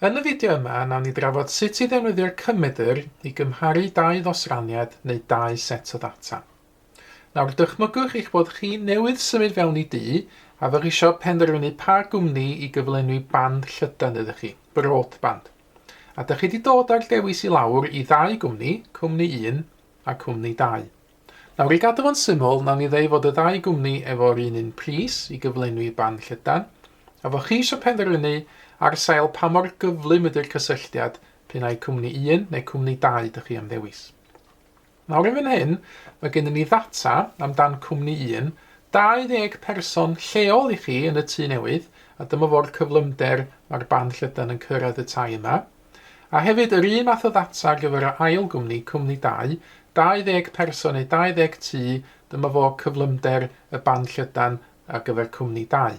Yn y fideo yma, nawn ni drafod sut i ddefnyddio'r cymedr i gymharu dau ddosraniad neu dau set o ddata. Nawr, dychmygwch eich bod chi newydd symud fewn i du a fyddwch eisiau penderfynu pa gwmni i gyflenwi band llydan iddo chi, broadband. A dych chi wedi dod â'r dewis i lawr i ddau gwmni, cwmni 1 a cwmni 2. Nawr, i gadw fo'n syml, wnawn ni ddeu fod y ddau gwmni efo'r un un pris i gyflenwi ban llydan, a fo' chi eisiau penderfynu ar sail pa mor gyflym ydy'r cysylltiad p'un ai cwmni un neu cwmni dau dych chi am ddewis. Nawr yn fan hyn, mae gennym ni ddata amdan cwmni un, 20 person lleol i chi yn y tŷ newydd, a dyma fo'r cyflymder mae'r ban llydan yn cyrraedd y tai yma. A hefyd, yr un math o ddata ar gyfer yr ail gwmni, cwmni dau, 20 person neu 20 tŷ, dyma fo cyflymder y band llydan ar gyfer cwmni dau.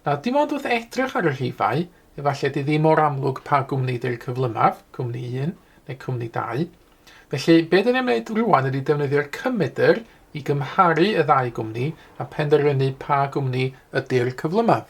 Nawr, dim ond wrth edrych ar y rhifau, efallai di ddim mor amlwg pa gwmni di'r cyflymaf, cwmni un neu cwmni dau. Felly, be dyn ni'n gwneud rwan ydy defnyddio'r cymedr i gymharu y ddau gwmni a penderfynu pa gwmni ydy'r cyflymaf.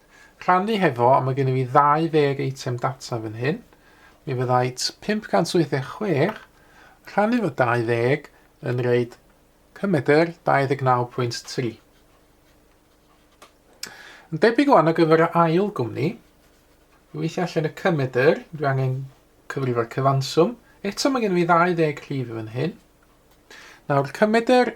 Rhannu hefo, a mae gennyf i 20 eitem data fan hyn. Mi fyddait 586 rhannu efo 20 yn reid cymedr 29.3. Yn debyg o'n ar gyfer y ail gwmni, i weithio allan y cymedr, dwi angen cyfrifo'r cyfanswm. Eto mae gennyf i 20 rhif fan hyn. Nawr, cymedr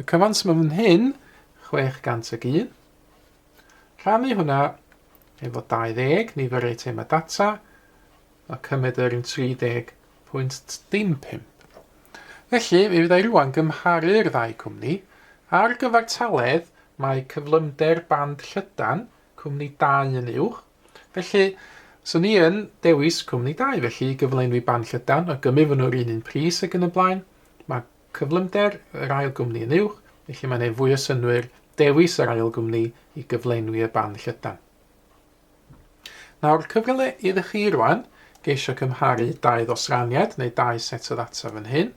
Y cyfans mae fan hyn, 601. Rhannu hwnna efo 20, nifer eitemau data, a cymryd yr un 30.15. Felly, mi fyddai rwan gymharu'r ddau cwmni. Ar gyfartaledd, mae cyflymder band llydan cwmni 2 yn uwch. Felly, swn i yn dewis cwmni 2, felly i gyflenwi band llydan, o gymu fy nhw'r un un pris ac yn y blaen. Mae Cyflymder yr ail gwmni yn uwch, felly mae'n ei fwy o synnwyr dewis yr ail gwmni i gyflenwi y band llydan. Nawr, cyfle iddo chi rwan geisio cymharu dau ddosraniad neu dau set o ddata fan hyn.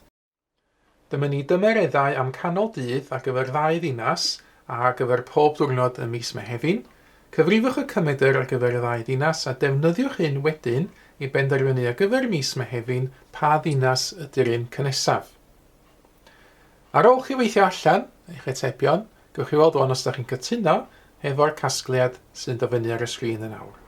Dyma ni dymereddau am canol dydd ar gyfer ddau ddinas a ar gyfer pob diwrnod ym mis Mehefin, Cyfrifwch y cymedr ar gyfer y ddau ddinas a defnyddiwch hyn wedyn i benderfynu ar gyfer mis Mehefin pa ddinas ydy'r un cynesaf. Ar ôl chi weithio allan eich atebion, gewch chi weld wan os ydych chi'n cytuno hefo'r casgliad sy'n dod fyny ar y sgrin yn awr.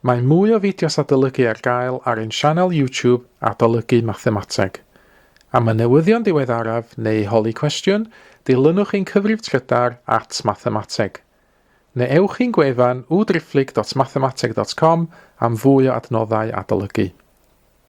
Mae mwy o fideos adolygu ar gael ar ein sianel YouTube Adolygu Mathemateg. Am y newyddion diweddaraf neu i holi cwestiwn, dilynwch ein cyfrif trydar at Mathemateg. Neu ewch i'n gwefan www.driphlyg.mathemateg.com am fwy o adnoddau adolygu.